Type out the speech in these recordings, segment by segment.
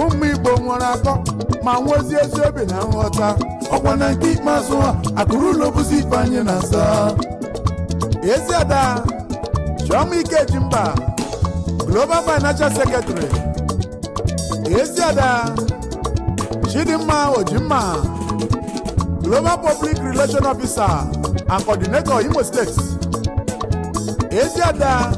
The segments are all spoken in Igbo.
ụmụ igbo nwere akọ ma nwezi ezi obi na nghọta ọkwa na nke ikpeazụ a akụ ruo ụlọ bụzi ife anyị na aza ezi ada chioma ikejimba global financial secretary ezi ada chidimma ojimma global public relation officer and coordinator imo state ezi ada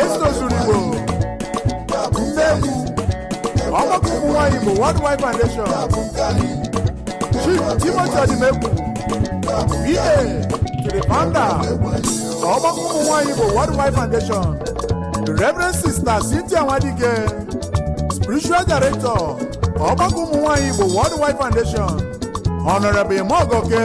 esther ozuruigbo member ọgbakọ ụmụ nwaanyị igbo worldwide foundation chief timothy ọdịmegwu pa to the founder ọgbakọ ụmụ nwaanyị igbo worldwide foundation the reverend sister cynthia nwadike spiritual director ọgbakọ ụmụ nwaanyị igbo worldwide foundation honorable imogoke